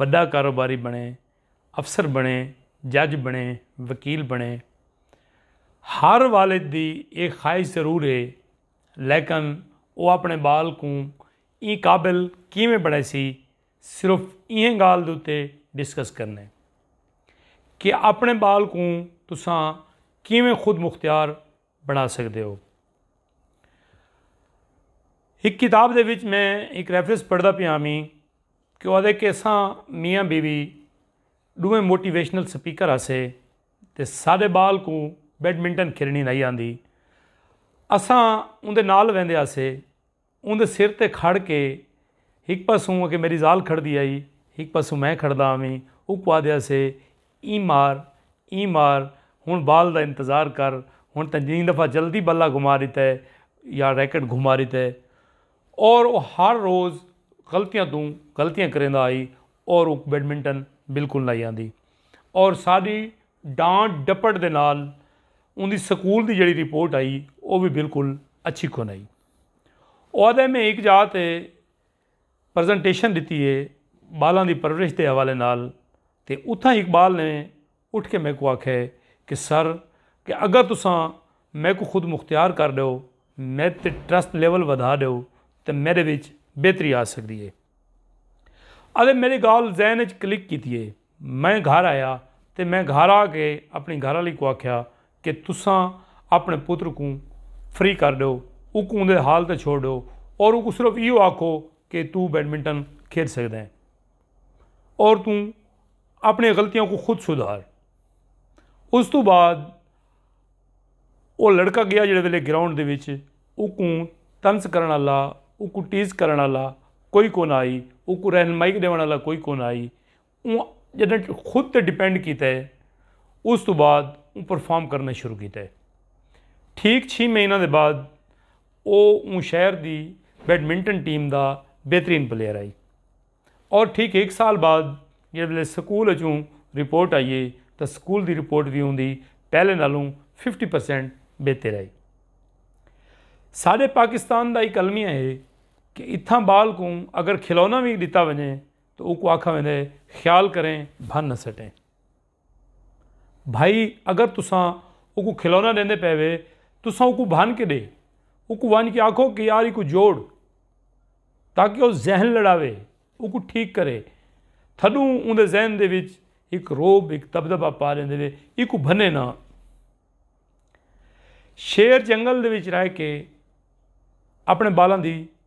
وݙا کاروباری بݨے، افسر بݨے، جج بݨے، وکیل بݨے۔ ہر والد دی اے خواہش ضرور اے لیکن او اپݨے ٻال کوں ایں قابل کیویں بݨیسی صرف ایں ڳالھ دے اتے ڈسکس کرݨے کہ اپݨے ٻال کوں تساں کیویں خود مختار بݨا سڳدے او۔ ہک کتاب دے وچ میں ہک ریفرنس پڑھدا پیا ہاں ویں کہ او آہدے کہ اساں میاں بیوی ݙوہیں موٹیویشنل سپیکر ہاسے تے ساݙے ٻال کوں بیڈمنٹن کھیݙݨی نئیں آندی۔ اساں اوندے نال ویندے ہاسے۔ اوندے سر تے کھڑ کے ہک پاسوں اگے میݙی ذال کھڑدی ہئی ہک پاسوں میں کھڑدا ہوویں اوکوں آہدے ہاسے ایں مار ایں مار ہݨ بال دا انتظار کر ہݨ تاں جئیں دفعہ جلدی بلا گھما ݙتے یا ریکٹ گھما ݙتے اور او ہر روز غلطیاں توں غلطیاں کریندا ہئی اور اوکوں بیڈمنٹن بالکل نہ ہئی آندی اور ساݙی ݙانٹ ݙپٹ دے نال اوندی سکول دی جیڑھی رپورٹ ہئی او وی بالکل اچھی کون ہئی او آدھے میں ہک جاہ تے پرزنٹیشن ڈتی ہے بالاں دی پرورش دے حوالے نال تے اتھاں ہک بال نے اٹھ کے میکوں آکھے کہ سر کہ اگر تساں میکوں خود مختیار کر ڈیو میڈ تے ٹرسٹ لیول ودھا ڈیو تے میڈے وچ بہتری آ سکدی ہے۔ آدھے میڈی گال ذہن وچ کلک کیتی ہے۔ میں گھر آیا تے میں گھر آ کے اپݨی گھر آلی کوں آکھیا کہ تساں اپݨے پتر کوں فری کر ݙیو اوکوں اوندے حال تے چھوڑ ݙیو اور اوکوں صرف ایہو آکھو کہ توں بیڈمنٹن کھیݙ سڳدیں اور توں اپݨیاں غلطیاں کوں خود سدھار۔ اس توں بعد او لڑکا ڳیا جیڑھے ویلے گراؤنڈ دے وچ اوکوں طنز کرݨ آلا اوکوں ٹیز کرݨ آلا کوئی کون آئی اوکوں رہنمائی ݙیوݨ آلا کوئی کون آئی۔ اوں جݙاں خود تے ڈیپینڈ کیتا ہے اس توں بعد اوں پرفارم کرنا شروع کیتا ہے ٹھیک چھی مہینہ دے بعد او اوں شہر دی بیڈمنٹن ٹیم دا بہترین پلیئر آئی اور ٹھیک ایک سال بعد جس ویلے سکول اچوں رپورٹ آئی ہے تو سکول دی رپورٹ بھی اوں دی پہلے نالوں ففٹی پرسینٹ بہتر آئی سارے پاکستان دا ایک المیہ ہے کہ اتھاں بال کو اگر کھلونا بھی ڈتا وجے تو اوکوں آکھا ویندے خیال کریں بھن نہ سٹیں بھائی اگر تساں اوکوں کھلونا ڈیندے پے وے تساں اوکوں بھن کے ڈے اوکوں وانج کے آکھو کہ یار ایکو جوڑ تاکہ او ذہن لڑاوے اوکو ٹھیک کرے تھڈوں اون دے ذہن دے وچ ایک روب ایک دبدبا پا لیندے وے ایکو بھنے نہ شیر جنگل دے وچ رہ کے اپنے بالاں دی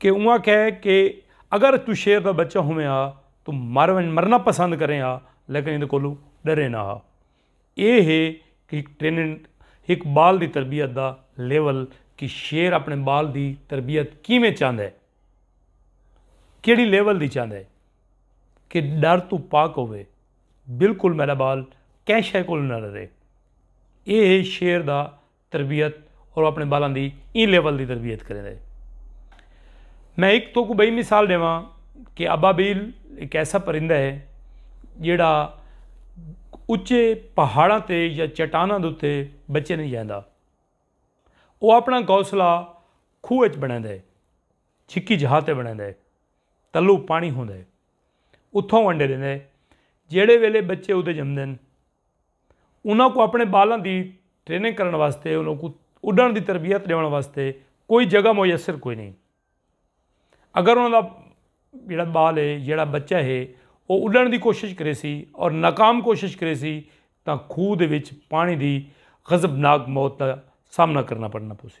کہ اوں آخیا ہے کہ اگر تو شیر دا بچہ ہوئیں ہا تو مر ونج مرنا پسند کریں ہا لیکن اندے کولوں ڈرے نہ ہا اے ہے کہ ٹریننگ ہک بال دی تربیت دا لیول کہ شیر اپنے بال دی تربیت کیویں چاہندا ہے کیڑی لیول دی چاہندا ہے کہ ڈر تو پاک ہوئے بالکل میرا بال کہیں شے کول نہ ڈرے اے ہے شیر دا تربیت اور اپنے بالاں دی ایں لیول دی تربیت کریں دے میں ایک تو کو بئی مثال دے ماں کہ ابابیل ایک ایسا پرندہ ہے جیڑا اچے پہاڑاں تے یا چٹاناں دوتے بچے نہیں جاندہ وہ اپنا گوسلہ کھو اچ بنے دے چھکی جہاتے بنے دے تلو پانی ہوں دے اتھوں انڈے دے جیڑے ویلے بچے ادھے جمدن انہاں کوں اپݨے ٻالاں دی ٹریننگ کرݨ واسطے انہاں کوں اݙݨ دی تربیت ݙیوݨ واسطے کوئی جگہ میسر کوئی نہیں اگر انہاں دا جیڑھا ٻال ہے جیڑھا بچہ ہے او اݙݨ دی کوشش کریسی اور ناکام کوشش کریسی تاں کھوہ دے وچ پاݨی دی غضبناک موت دا سامنا کرݨا پوسی۔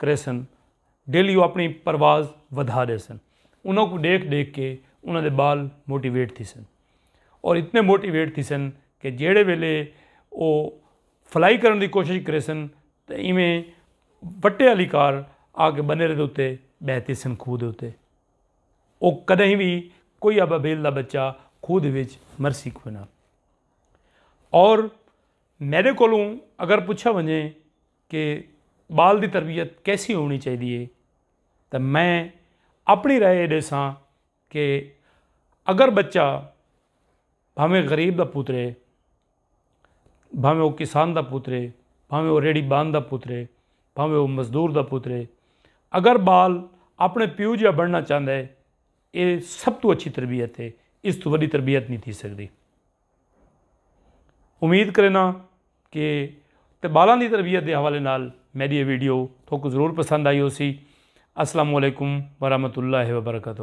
کریسن ڈیلی او اپنڑی پرواز ودھا ڈیسن انہاں کوں ڈیکھ ڈیکھ کے انہاں دے بال موٹیویٹ تھیسن اور اتنے موٹیویٹ تھیسن کہ جیڑے ویلے او فلائی کرنڑ دی کوشش کریسن تے ایویں وٹے آلی کار آ کے بنیرے دے اتے بہہ تھیسن کھوہ دے اتے او کدہیں وی کوئی ابابیل دا بچہ کھوہ دے وچ مرسی کوئناں اور میڈے کولوں اگر پچھا ونجے کہ بال دی تربیت کیسی ہونی چاہیدی ہے تاں میں اپنی رائے یہ ڈیساں کہ اگر بچہ بھاویں غریب دا پوترے بھاویں وہ کسان دا پوترے بھاویں وہ ریڑھی بان دا پوترے بھاویں وہ مزدور دا پوترے اگر بال اپنے پیو جیہا بننا چاہندا ہے یہ سب تو اچھی تربیت ہے اس تو وڈی تربیت نہیں تھی سکدی۔ امید کرینا کہ تے بالاں دی تربیت دے حوالے نال میڈی یہ ویڈیو تو کو ضرور پسند آئی ہو سی السلام علیکم ورحمۃ اللہ وبرکاتہ